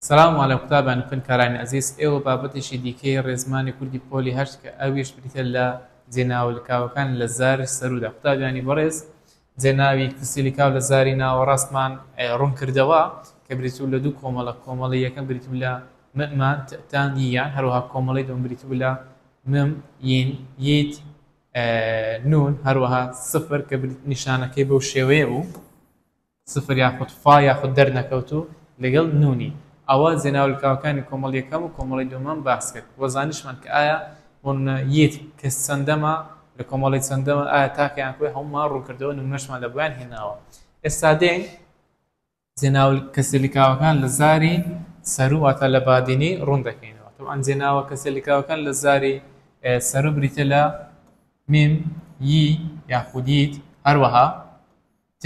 سلام علی قوتابیان و خوێندکارانی ئەزیز، ئێوە بابەتێکی دیکەی ڕێزمانی کوردی پۆلی هەشت کە ئەویش بریتیە لە جێناوە لکاوەکان لە زاری سەرودا قوتابیانی بەڕێز جێناوی کەسی لکاو لە زاری ناوەڕاستمان ڕوون کردەوە کە بریتبوو لە دوو کۆمەڵە کۆمەڵی یەکەم بریتبوو لە م مان ت تان ی یان هەروەها کۆمەڵەی دووەم بریتبوو لە م ین یت نون هەروەها سفر کە نیشانەکەی بەو شێوەیە بوو. سفر یاخود فا یاخود دەرنەکەوتوو لەگەڵ نوونی. ئەوە جێناوە لکاوەکانی کۆمەڵی یەکەم و کۆمەڵی دووەمم باس کرد و زانیشمان کە ئایا ون یت کەس چەندەمە لە کۆمەڵی چەندەمن ئایا تاکە یان کۆی هەموومان ڕوون کردەوە نمونەشمان لە بۆیان هێناوە ئێستا دێین جێناوە کەسە لکاوەکان لە زاری سەروو واتە لە بادینی ڕوون دەکەینەوە تەبعەن جێناوە کەسە لکاوەکان لە زاری سەروو بریتیە لە میم ی یاخود یت هەروەها ت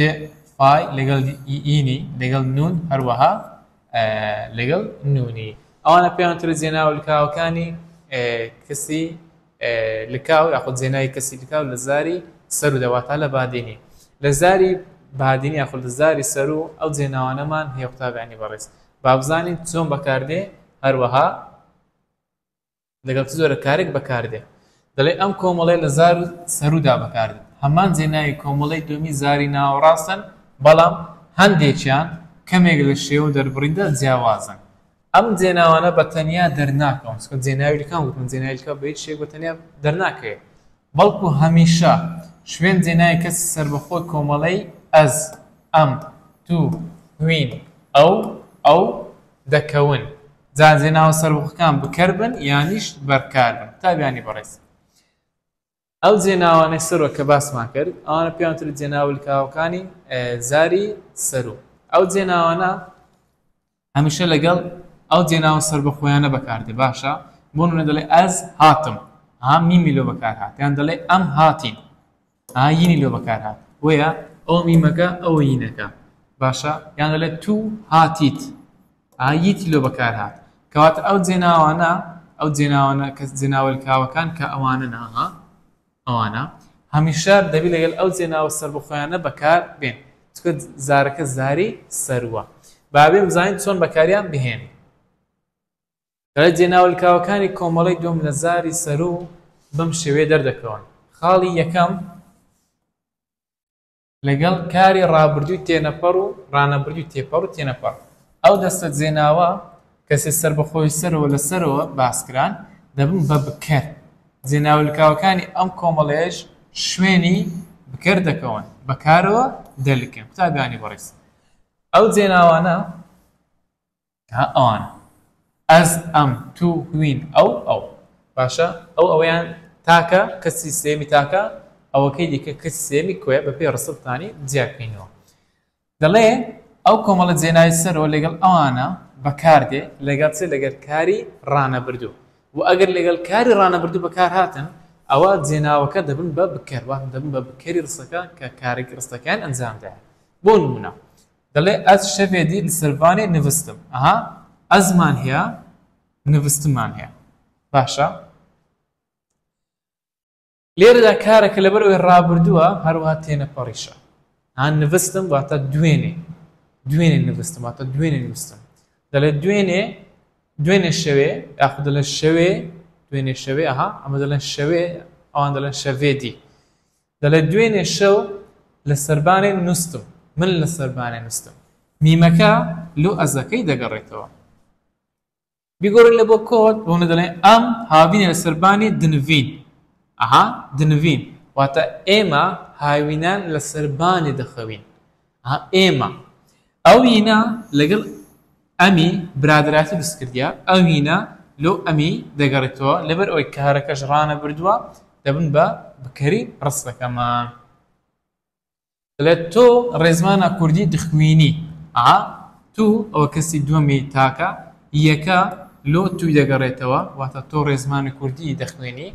فای لەگەڵ ئینی لەگەڵ نوون هەروەها لەگەڵ نوونی ئەوانە پێیان ترە جێناوە لکاوەکانی کەسی لکاو یاخود جێناوی کەسی لکاو لە زاری سەرو دە واتا لە بادینی لە زاری بادینی یاخود لە زاری سەرو ئەو جێناوانەمان هەیە قوتابیانی بەڕێز با بزانین چۆن بەکاردێ هەروەها لەگەڵ چ جۆرە کارێک بەکاردێت دەڵێ ئەم کۆمەڵێ لە زار و سەرودا بەکاردێت هەمان جێناوی کۆمەڵی دومی زاری ناوەڕاستن بەڵام هەندێکیان کەمێک لە شێوە دەربڕیندا جیاوازن ئەم جێناوانە بە تەنیا دەرناکەون چکە جێناویلکان وتن جێناویلکە بە هیچ شێک بە تەنیا دەرناکەوێت بەڵکو هەمیشە شوێن جێناوی کەسی سەربەخۆی کۆمەڵەی ئەز، ئەم، تو، هوین، ئەو، ئەو، دەکەون. جا جێناوە سەربەخۆکان بکەر بن یانیش بەرکار بن. قوتابیانی بەڕێز، ئەو جێناوانەی سەروە کە باسمان کرد، ئەوانە پێیان وترێت جێناوە لکاوەکانی زاری سەروو. ئەو جێناوانە هەمیشە لەگەڵ ئەو جێناوە سەربەخۆیانە بەکاردێ باشە بۆ نمونە دەڵێ ئەز هاتم ها میمی لۆ بەکار هات یان دەڵێ ئەم هاتین ها یینی لۆ بەکار هات بۆیە ئەو میمەکە ئەو یینەکە باشە یان دەڵێ تو هاتیت ها ییتی لۆ بەکار هات کەواتە ئەو جێناوانە ئەو جێناوانە کە جێناوەلکاوەکان کە ئەوانە ناها ئەوانە هەمیشە دەبی لەگەل ئەو جێناوە سەربەخۆیانە بەکار بێن چونکە زارەکە زاری سەروە با بێم زانین چۆن بەکاریان بهێنین. دەڵێت جێناوە لکاوەکانی کۆمەڵەی دووەم لە زاری سەروو بەم شێوەیە دەردەکەون، خاڵی یەکەم، لەگەڵ کاری ڕابردووی تێنەپەڕ و ڕانەبردووی تێپەڕ و تێنەپەڕ، ئەو دەستە جێناوە کە سێ سەربەخۆی سەرەوە لە سەرەوە باس کران، دەبن بە بکەر. جێناوە لکاوەکانی ئەم کۆمەڵەیەش شوێنی بکەر دەکەون، بە کارەوە دەلکن. قوتابیانی بەڕێز، ئەو جێناوانە ها ئەوانە ئەز ئەم تو هوین ئەو ئەو باشە ئەو ئەویان تاکە کەسی سێمی تاکە ئەوەکەی دیکە کەسی سێمی کوێ بە پێی ڕسبتانی جیاکەینەوە دەڵێ ئەو کۆمەڵە جێناوی سەرەوە لەگەڵ ئەوانە بەکاردێ لەگەڵ چێ لەگەر کاری ڕانەبردوو و ئەگەر لەگەڵ کاری ڕانەبردوو بەکار هاتن ئەوە جێناوەکە دەبن بە بکەروان دەبن بە بکەری ڕستەکە کە کارێکی ڕستەکەیان ئەنجامدایە بۆ نمونە دەڵێ ئەز شەڤێ دی لسەرڤانێ نڤستم، ئەها ئەزمان هەیە نڤستمان هەیە باشە لێرەدا کارەکە لەبەر ئەوێ ڕابردووە هەروها تێنەپەڕیشە ها نڤستم واتە دوێنێ دوێنێ نڤستم واتە دوێنێ نووسم دەڵێ دوێنێ دوێنێ شەوێ یاخ دەڵێ شەوێ دوێنێ شەوێ ئەها ئەمە دەڵێن شەوێ ئەوان دەڵێن شەوێ دی دەڵێت دوێنێ شەو لە سەربانێ نوستم، من لە سەربانێ نوستم، میمەکە لۆ ئەزەکەی دەگەڕێتەوە. بیگۆڕین لە بۆ کۆت بۆ منە دەڵێن ئەم هاوینە لە سەربانی دنڤین ئەها دنڤین واتە ئێمە هاوینان لە سەربانێ دەخەوین. ها ئێمە ئەوینە لەگەڵ ئەمی برادەراتی دەست کردیە ئەوینە لۆ ئەمی دەگەڕێتەوە لەبەر ئەوەی کارەکەش ڕانە بردووە دەبن بە بکەری ڕستەکەمان لە تۆ ڕێزمانە کوردی دخوینی ئا تو ئەوە کەسی دووەمی تاکە یەکە لۆ توی دەگەڕێتەوە واتە تۆ ڕێزمانی کوردی دەخوێنی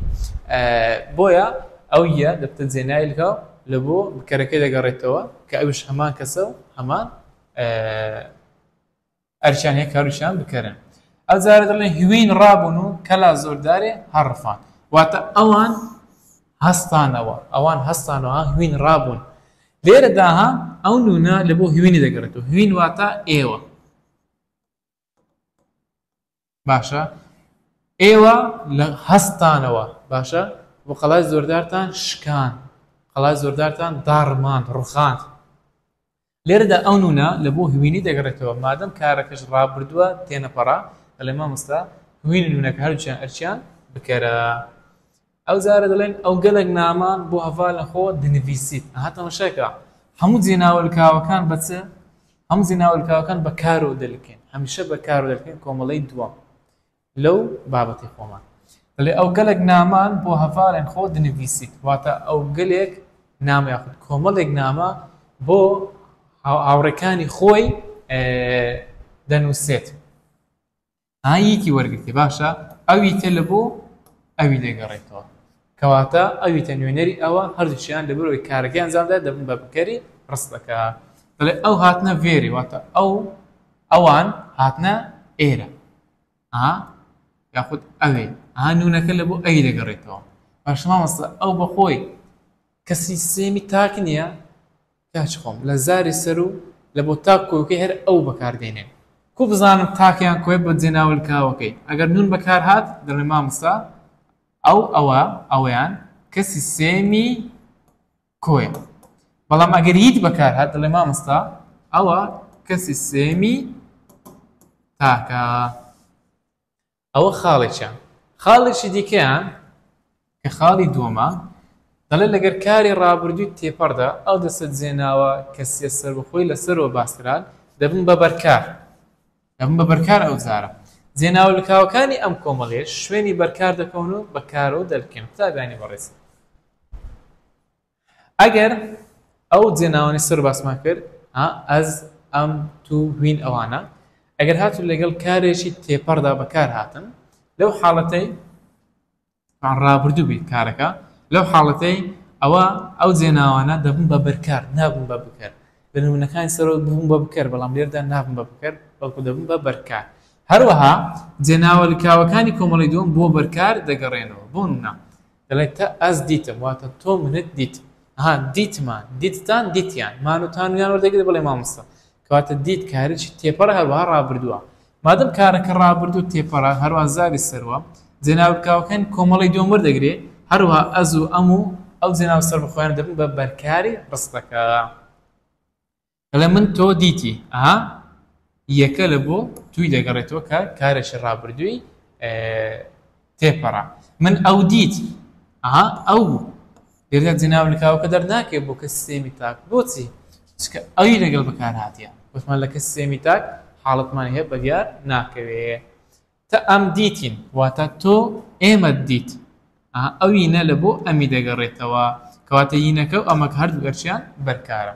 بۆیە ئەو یە دەبتە جێنای لکاو لە بۆ بکەرەکەی دەگەڕێتەوە کە ئەوش هەمان کەسە و هەمان ئەرکیان هەیە کاروشیان بکەرن ئەو جارە دەڵێن هوین ڕابوون و کەلا زۆردارێ هەڕفان واتە ئەوان هەستانەوە، ئەوان هەستانەوە، ها، هوین ڕابوون. لێرەدا، ها، ئەو نوونە لە بۆ هوینی دەگەڕێتەوە، هوین واتە ئێوە. باشە، ئێوە لە هەستانەوە، باشە، و قەڵای زۆردارتان شکاند، قەڵای زۆردارتان داڕماند، ڕوخاند. لێرەدا ئەو نوونە لە بۆ هوینی دەگەڕێتەوە مادەم کارەکەش ڕابردووە تێنەپەڕا دەڵێ مامۆستا هوینی نوونەکە هەردووکیان ئەرکیان بکەرە ئەو جارە دەڵێن ئەو گەلێک نامان بۆ هەڤال نەخۆ دنڤیسیت ئەها تەمەشاکە هەموو جێناوەلکاوەکان بە چ هەموو جێناوەلکاوەکان بە کارۆ دەلکێن هەمیشە بە کارۆ دەلکێن کۆمەڵەی دووەم لەو بابەتەی خۆمان. دەڵێ ئەو گەلەک نامان بۆ هەڤارێن خۆ دنڤیسیت، واتە ئەو گەلێک نامە یاخود کۆمەڵێک نامە بۆ هاوڕێکانی خۆی دەنووسێت. ئا یەکی وەرگرتێ باشە ئەوی تێ لە بۆ ئەوی دەگەڕێتەوە. کەواتە ئەوی تە نوێنەری ئەوە هەردووچیان لەبەرەوەی کارەکەی ئەنجامدا دەبن بە بکەری ڕستەکە. دەڵێ ئەو هاتنە ڤێری واتە ئەو ئەوان هاتنە ئێرە. ئا یاخود ئەوێ ئا نونەکە لە بۆ ئەوی دەگەڕێتەوە باش مامۆستا ئەو بەخۆی کە سیستێمی تاک نییە کاچ خۆم لە زاری سەر و لە بۆ تاک کۆکەی هەر ئەو بەکاردێنێ کو بزانم تاکیان کۆی بە جێناول کاوەکەی ئەگەر نون بەکار هاات دەڵێ مامۆستا ئەو ئەوە ئەویان کە سیستێمی کۆیە بەڵام ئەگەر یت بەکار هات دەڵێ مامۆستا ئەوە کەسی سێمی تاکە ئەوە خاڵێکە خاڵێکی دیکەیان کە خاڵی دووەمە دەڵێ لەگەر کاری ڕابردووی تێپەڕدا ئەو دەسە جێناوە کەسیە سەربخۆی لەسەرەوە باسران دەبن بە بەرکار دەبن بە بەرکار ئەوجارە زێناوە لکاوەکانی ئەم کۆمەڵەیەش شوێنی بەرکار دەکەون و بە کارەوە دەلکێن قوتابیانی بەڕێز ئەگەر ئەو جێناوانی سەر باسمان کرد ئەز ئەم تو هوین ئەوانە ئەگەر هاتو لەگەڵ کارێکی تێپەڕدا بەکار هاتن لەو حاڵەتەی یان ڕابردوو بیت کارەکە، لەو حاڵەتەی ئەوا ئەو جێناوانە دەبن بە بەرکار نابن بە بکەر، لە نموونەکانی سەرەوە ببوون بە بکەر بەڵام لێرەدا نابن بە بکەر بەڵکو دەبن بە بەرکار. هەروەها جێناوە لکاوەکانی کۆمەڵەی دووەم بۆ بەرکار دەگەڕێنەوە بۆ نموونە دەڵێت تە ئەز دیتم واتە تۆ منت دیت ها دیتمان دیتتان دیتیان مان و تان و یان وەردەگرێت بەڵێ مامۆستا کەواتە دیت کارێکی تێپەڕە هەروەها ڕابردووە. مادەم کارەکە ڕابردوو تێپەڕە هەروەها زاری سەروە، جێناوە بکاوەکانی کۆمەڵەی دووەم وەردەگرێ، هەروەها ئەز و ئەم و ئەو جێناوە سەربەخۆیانە دەبن بە بەرکاری ڕستەکە. دەڵێ من تۆ دیتی، ئەها یەکە لە بۆ تووی دەگەڕێتەوە کە کارێکی ڕابردووی تێپەرا من ئەو دیت ئەها ئەو لێرە جناو لکاوەکە دەرناکەێت بۆ کە سێمی تاک بۆچی چکە ئەوی لەگەڵ بەکار هااتە وتمان لە کە سێمی تاک حاڵتمان هەیە بەدیار ناکەوێت تە ئەم دیتین واتە تۆ ئێمە دیت ئەوی نە لە بۆ ئەمی دەگەڕێتەوە کەواتە یینەکە و ئەمەک هەردوو گەرچیان بەرکارە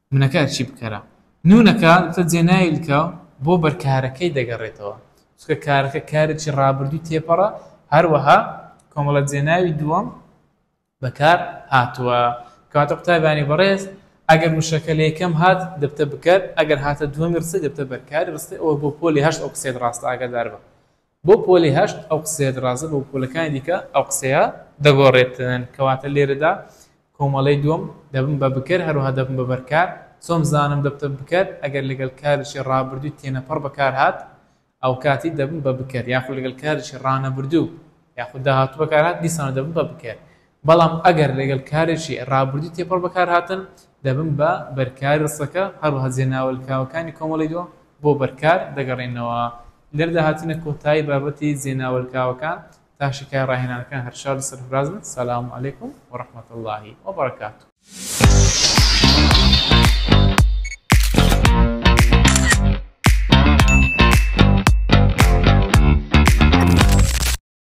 نونەکە ئەرچی بکەرە نونەکە تە جێناویلکە بۆ بەرکارەکەی دەگەڕێتەوە چکە کارەکە کارێکی ڕابردووی تێپەڕە هەروەها کۆمەڵە جێناوی دووەم بەکار هاتووە کاتە قوتابانی بەڕێز ئەگەر وشەکە لە یەکەم هات دەبتە بکەر ئەگەر هاتە دووەمی ڕستی دەبتە بەرکاری ڕستی ئەوە بۆ پۆلی هەشت ئەو قسەیت ڕاستە ئاگادار بە بۆ پۆلی هەشت ئەو قسەیە درازە بە پۆلەکانی دیکە ئەو قسەیە دەگۆرێتن کەواتە لێرەدا کۆمەڵەی دووەم دەبم بە بکەر هەروەها دەبم بە بەرکار چۆن بزانم دەبتە بکەر ئەگەر لەگەل کارێکی ڕابردووی تێنەپەڕ بەکار هات ئەوکاتی دەبم بە بکەر یاخود لەگەل کارێکی ڕانەبردوو یاخود داهاتوو بەکار هات دیسانە دەبم بە بکەر بەڵام ئەگەر لەگەڵ کارێکی ڕابردووی تێپەڕ بەکارهاتن، دەبن بە بەرکاری ڕستەکە، هەروەها جێ ناوەلکاوەکانی کۆمەڵەی دووەم بۆ بەرکار دەگەڕێنەوە. لێرەدا هاتینە کۆتایی بابەتی جێ ناوەلکاوەکان، تا شیکای ڕاهێنانەکان هەر شاد و سەرفراز بن، سلام علیکم و رحمة اللە و برکاته.